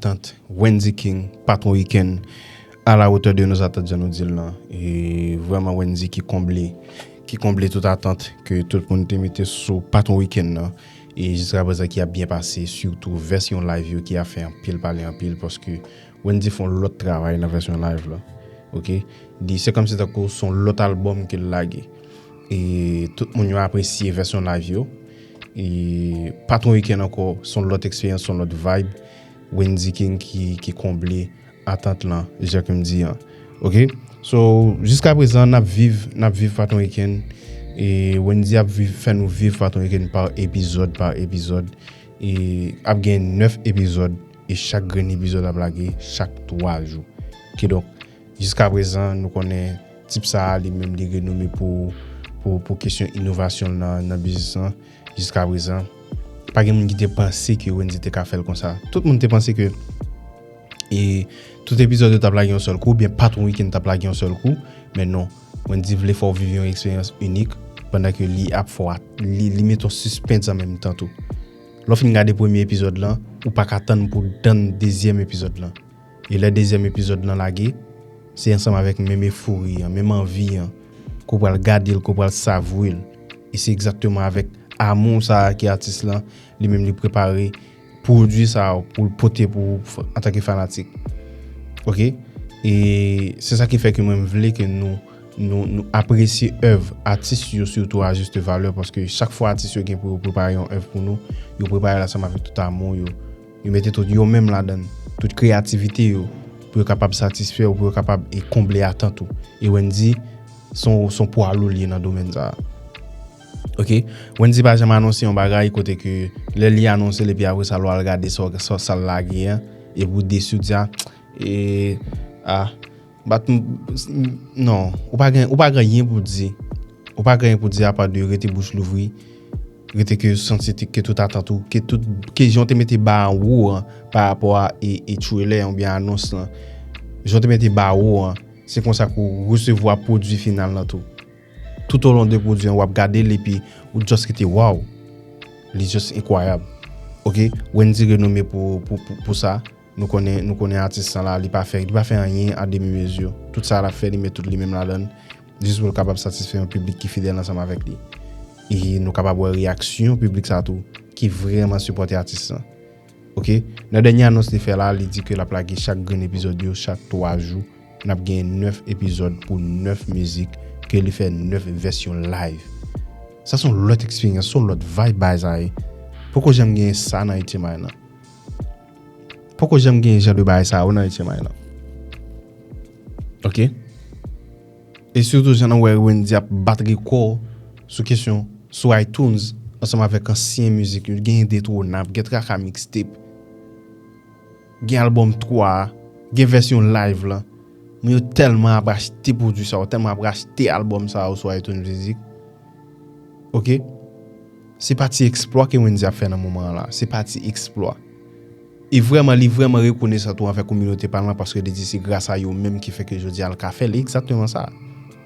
Tant Wendy King patron weekend a la hauteur de nos attentes jan nou dil lan e vrèman Wendy ki konble ki konble tout atant ke tout moun te mete sou patron weekend lan e jiska prezan ki ap byen pase sitou vèsyon live yo ki ap fè anpil pale anpil paske Wendy fon lòt travay nan vèsyon live la ok li se kòmsi tankou son lòt album ke l lage e tout moun yo apresye vèsyon live yo. E pa t yon wikenn ankò, s on lòt eksperyans, s on lòt vibe. Wendyy King ki konble atant lan, jan ke m di an. Ok, so, jiskaprezan n ap viv, n ap viv pa t yon wikenn. E Wendyy ap viv, fè nou viv pa t yon wikenn pa epizòd, pa epizòd. E ap gen 9 epizòd, e chak grenn epizòd ap lage chak 3 jou. Kidonk. Jiska prezan nou konnen tip sa a li menm li renome pou kesyon inovasyon l nan biznis lan. Jiska prezan pa gen moun ki te panse ke Wendyy te ka fè l konsa. Tout moun te panse ke e tout epizòd yo t ap lage yon sèl kou oubyen patwon wikenn t ap lage yon sèl kou. Men non, Wendyy vle fè w viv yon eksperyans inik pandan ke li ap fè w li mete w sispens an menm tan tou. Lè w fin gade premye epizòd lan, ou pa ka tann pou w tann dezyèm epizòd lan. E lè dezyèm epizòd lan lage, se ansanm avèk menm efori an, menm anvi an, ke w pral gade l, ke w pral savwe l. E se egzakteman avèk amou sa a ke atis lan, li menm li prepare pwodui sa a pou l pote pou ou antanke fanatik. Ok? E se sa ki fè ke mwen m vle ke nou, nou, nou apresye èv atis yo sitou a juste valeur paske chak fwa atis yo gen pou yo prepare yon èv pou nou, yo prepare l ansanm avèk tout amou yo. Yo mete tout yo menm ladan, tout kreyativite yo pou yo kapab satisfè ou pou yo kapab konble atant ou. E Wendy son pwa lou li ye nan domèn sa a. Ok. Wendy pa janm anonse yon bagay kote ke lè li anonse l epi apre sa lwa al gade sa l lage an epi ou desi ou di a, ee, a. Bat m non ou pa gen ou pa gen yen pou di ou pa gen yen pou di apa de rete bouch louvri rete ke santi ke tout atant ou ke tout ke jan ou te mete ba an wo an pa rapò a e trelè an ou byen anons lan jan ou te mete ba wo an se konsa ke ou resevwa pwodwi final lan tou tout olon de pwodwi an wap gade l epi ou just rete waw li just enkwayab ok Wendy renome pou sa. Nou konnen nou konnen atis lan la li pa fè li pa fè anyen a demi mezi. Tout sa lap fè li met tout li menm ladann jis pou l kapab satisfè yon piblik ki fidèl ansanm avèk li. E nou kapab wè reyaksyon piblik sa tou ki vrèman sipòte atis lan. Ok nan dènye anons li fè la li di ke lap lage chak grenn epizòd yo chak 3 jou nap gen 9 epizòd pou 9 mizik ke li fè 9 vèsyon live. Sa son lòt eksperyans son lòt vibe baay sa ye poko janm gen sa nan 8 ème ane nan. Poko janm gen jan de bagay sa yo nan Etye May lan. Ok. E sitou jan nou wè Wendy ap bat rekò sou kesyon sou iTunes ansanm avèk ansyen mizik yo. Gen Indetronab, gen Traka Mixtape, gen albòm 3, gen vèsyon live lan. Moun yo tèlman ap achte pwodui sa yo, tèlman ap achte albòm sa yo sou iTunes Mizik. Ok Se pa ti eksplwa ke Wendy ap fè nan moman an la. Se pa ti eksplwa. E vrèman li vrèman rekonesan tou anvè kominote pa l lan paske li di se gras a yo menm ki fè ke jodi a l ka fè l. E egzakteman sa.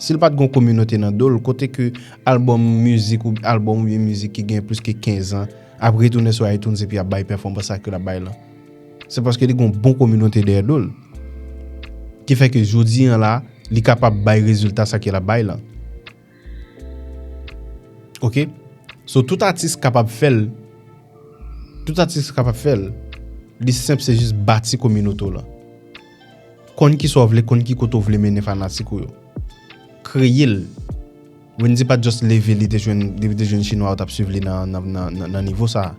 Si l pa t gen yon kominote nan do l, kote ke albòm mizik ou albòm ou byen mizik ki gen plis ke kenzan ap retounen sou iTunes epi ap bay pèfòmans sa ke l ap bay lan. Se paske li gen yon bon kominote dèyè do l. Ki fè ke jodi an la li kapab bay rezilta sa ke l ap bay lan. Ok So tout atis kapab fèl Tout atis kapab fèl Li senp se jis bati kominote w lan Konn kisa w vle konn ki kote w vle mennen fanatik ou yo Kreye l Wendy pat just leve li te jwenn li te jwenn chinwa yo tap swiv li nan nan nivo sa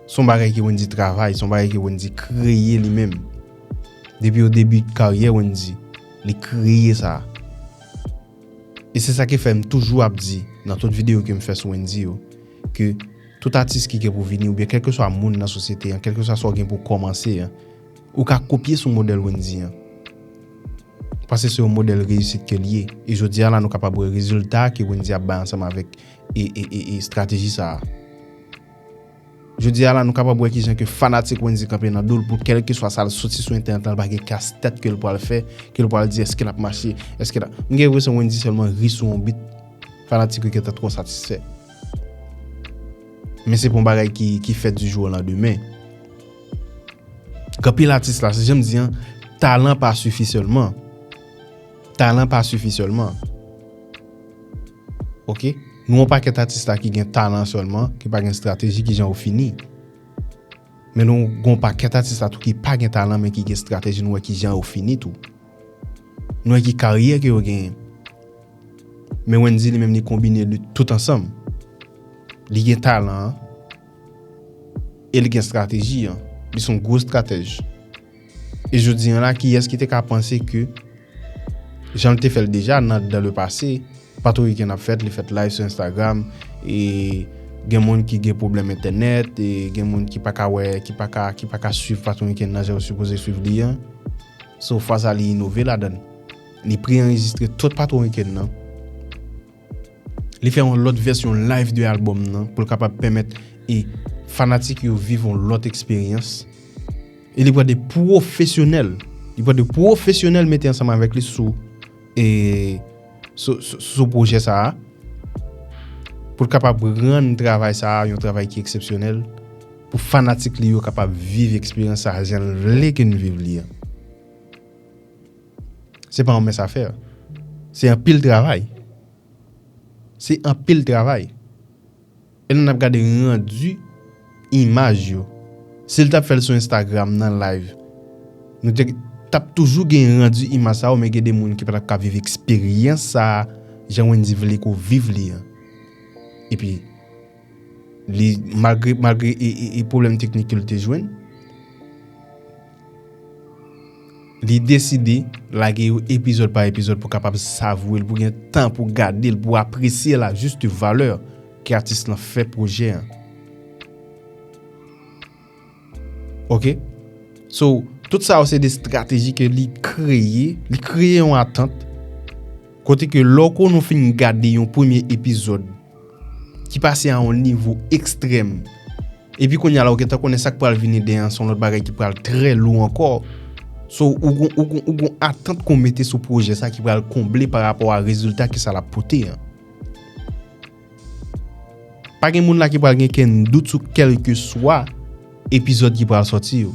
Se yon bagay ke Wendy travay se yon bagay ke Wendy kreye li menm Depi o debi karyè Wendy li kreye sa. E se sa ki fè m toujou ap di nan tout videyo ke m fè sou Wendyy yo, ke tout atis ki gen pou vini oubyen kèlkeswa moun nan sosyete an, kèlkeswa sa w gen pou w kòmanse an, ou ka kopye sou modèl Wendyy an. Paske se yon modèl reyisit ke l ye. E jodi a la nou kapab wè rezilta ke Wendyy ap bay ansanm avèk estrateji sa a. Jodi a la nou kapab wè kijan ke fanatik Wendyy kanpe nan do'l pou kèlkeswa sa'l soti sou entènèt la li pa gen kas tèt ke'l pwal fè, ke'l pwal di eske l'ap mache, eske l'ap. M gen enpresyon Wendyy sèlman ri sou yon bit fanatik yo gentan twò satisfè. Men se pa yon bagay ki fèt di jou o landemen. K anpil atis la, se janm di an, talan pa sifi sèlman. Talan pa sifi sèlman. Ok nou yon pakèt atis la ki gen talan sèlman ki pa gen strateji ki jan ou fini men nou gen yon pakèt atis la tou ki pa gen talan men ki gen strateji nou wè ki jan yo fini tou nou wè ki karyè ke yo genyen men Wendy li menm li konbine li tout ansanm li gen talan an e li gen strateji an li son gwo stratèj. E jodi an la, kiyès ki te ka panse ke, jan l te fè l deja nan dan le pase, patou wikenn ap fèt, li fèt live sou Instagram, e gen moun ki gen pwoblèm entènèt, e gen moun ki pa ka wè, ki pa ka, ki pa ka swiv patou wikenn nan jan yo sipoze swiv li an. So, fwa sa li inove ladan l. Li pre-anrejistre tout patou wikenn nan. Li fè yon lòt vèsyon live de album nan pou l kapab pèmèt e fanatik yo viv yon lòt eksperyans. E li pran de pwofesyonèl, li pran de pwofesyonèl mete ansanm avèk li sou e sou pwojè sa a pou l kapab rann travay sa a yon travay ki eksepsyonèl pou fanatik li yo kapab viv eksperyans sa a jan l vle ke n viv li an. Se pa yon mens afè. Se anpil travay. Se anpil travay. E lè nap gade rendu imaj yo. Si l tap fè l sou Instagram nan live. Nou te tap toujou gen rendu imaj sa yo men gen de moun ki pa tap ka viv eksperyans sa a jan Wendy vle ke w viv li an. E pi. Li malgre malgre e pwoblèm teknik ke li te jwenn, li deside lage yo epizòd pa epizòd pou kapab savoure'l, pou gen tan pou gade'l, pou apresye'l a juste valeur ke atis lan fè projè an. Ok So tout sa yo se de strateji ke li kreye Li kreye yon atant Kote ke lè w konn ou fin gade yon premye epizòd Ki pase a yon nivo ekstrèm Epi kounye a la ou gentan konnen sa k pral vini deyè an se yon lòt bagay ki pral trè lou ankò So ou gon atant ke w mete sou pwojè sa ki pral konble pa rapò a rezilta ke sa l ap pote an. Pa gen moun la ki pral gen kenn dout sou kèlkeswa epizòd ki pral sòti yo.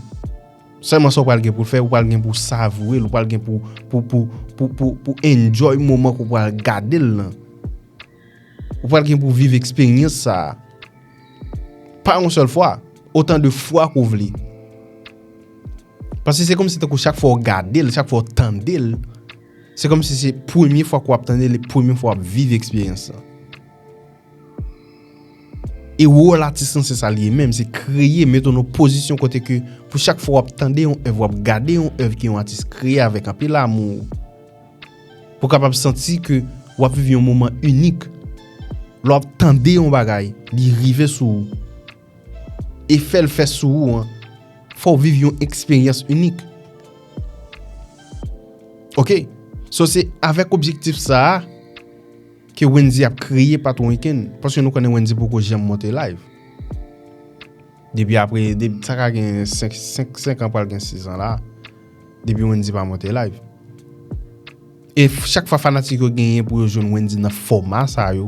Sèlman sa w pral gen pou w fè, ou pral gen pou w savoure l, ou pral gen pou w enjoy moman ke w pral gade l lan. Ou pral gen pou w viv eksperyans sa a. Pa yon sèl fwa, otan de fwa ke w vle. Paske se kòmsi tankou chak fwa w gade l, chak fwa w tande l, Se kòm si se premye fwa ke w ap tande li, premye fwa w ap viv eksperyans lan. E wòl atis lan se sa li ye menm, se kreye, mete w nan yon pozisyon kote ke pou chak fwa w ap tande yon èv, w ap gade yon èv ke yon atis kreye avèk anpil amou, pou w kapab santi ke w ap viv yon moman inik. Lè w ap tande yon bagay, li rive sou ou. Efè l fè sou ou an fè w viv yon eksperyans inik. Ok, so se avèk objektif sa a ke Wendy ap kreye Patwon Week-end, paske nou konnen Wendy poko janm monte layv. Depi apre, sa ka gen 5 an pral gen 6 an la, depi Wendy pa monte layv. E chak fwa fanatik yo genyen pou yo jwenn Wendy nan fòma sa yo,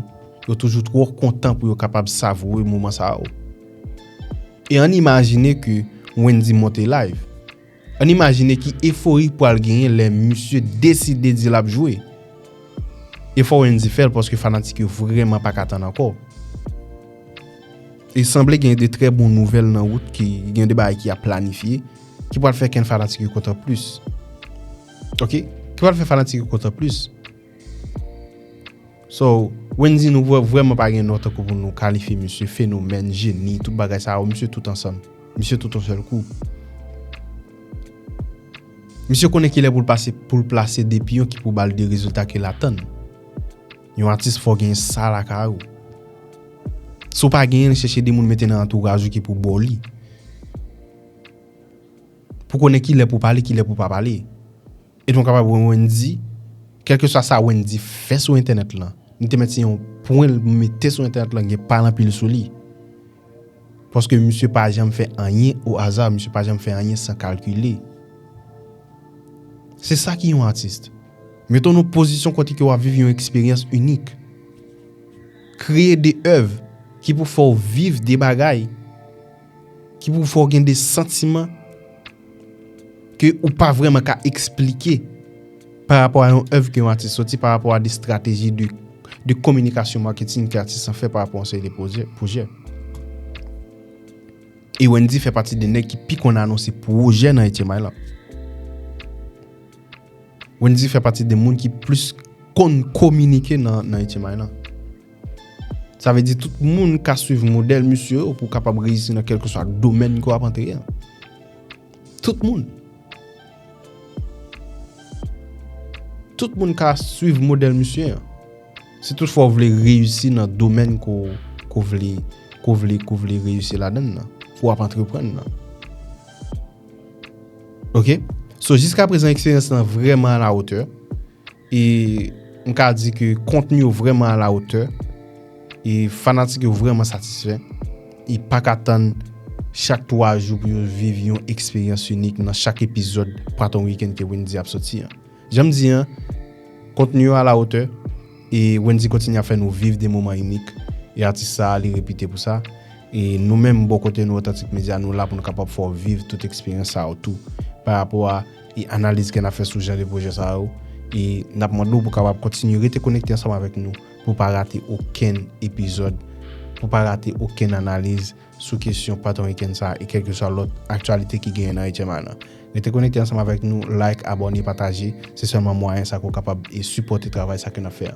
yo toujou twò kontan pou yo kapab savoure moman sa yo. E ann imajine ke Wendy monte live. Ann imajine ki efori k pral genyen lè misye deside di l ap jwe. E fò Wendy fè l paske fanatik yo vrèman pa ka tann ankò. E sanble gen de trè bon nouvèl nan wout ki gen de bagay ki ap planifye ki pral fè ken fanatik yo kontan plis. Ok ki pral fè fanatik yo kontan plis. So Wendy nou vrèman pa gen non tankou pou nou kalifye misye fenomèn, jeni tout bagay sa yo misye tout ansanm. Misye tout yon sèl kou. Misye konnen kilè pou l pase pou l plase de piyon ki pou ba l de rezilta ke l atann. Yon atis fò gen sa lakay ou. Si w pa genyen chèche de moun mete nan antouraj ou ki pou ba w li. Pou w konnen ki lè pou w pale, ki lè pou w pa pale. E nou kapab wè Wendy, kèlkeswa sa Wendy fè sou entènèt lan, li te mèt se yon pwen l mete sou entènèt lan gen pa l anpil sou li. Paske misye pa janm fè anyen o aza, misye pa janm fè anyen san kalkile. Se sa ki yon atis. Mete w nan pozisyon kote ke w ap viv yon eksperyans inik. Kreye de èv ki pou fè w viv de bagay. Ki pou fè w gen de santiman ke ou pa vrèman ka eksplike pa rapò a yon èv ke yon atis soti, pa rapò a de strateji de kominikasyon marketing ke atis lan fè pa rapò a yon seri de pwojè. E Wendyy fè pati de nèg ki pi konn anonse pwojè nan Etye May lan. Wendyy fè pati de moun ki plis konn kominike nan Etye May lan. Sa vle di tout moun ka swiv modèl misye yo pou kapab reyisi nan kèlkeswa domèn ke w ap antre an. Tout moun. Tout moun ka swiv modèl misye an. Si tout fwa w vle reyisi nan domèn ke w vle, ke w vle, ke w vle reyisi ladan nan. Ke w ap antreprann nan. Ok? So jiska prezan eksperyans lan vreman a la otè. E m ka di ke kontni yo vrèman a la otè. E fanatik yo vrèman satisfè. E pa ka tann chak 3 jou pou yo viv yon eksperyans inik nan chak epizòd Pwaton Weekend ke Wendyy ap soti an. Jan m di an, kontni yo a la otè. E Wendyy kontinye ap fè nou viv de moman inik. E atis sa a li repite pou sa. E nou menm bò kote nou Otantik Medya nou la pou nou kapab fè w viv tout eksperyans sa yo tou. Pa rapò a. e analiz kè n ap fè sou jan de pwojè sa yo e n ap mande w pou w kapab kontinye rete konekte ansanm avèk nou pou w pa rate okenn epizòd, pou w pa rate okenn analiz sou kesyon Patwon Wikèn sa e kèlkeswa lòt aktyalite ki genyen nan HMA nan. Rete konekte ansanm avèk nou, like, abòne, pataje, se sèlman mwayen sa ke w kapab e sipòte travay sa ke n ap fè an.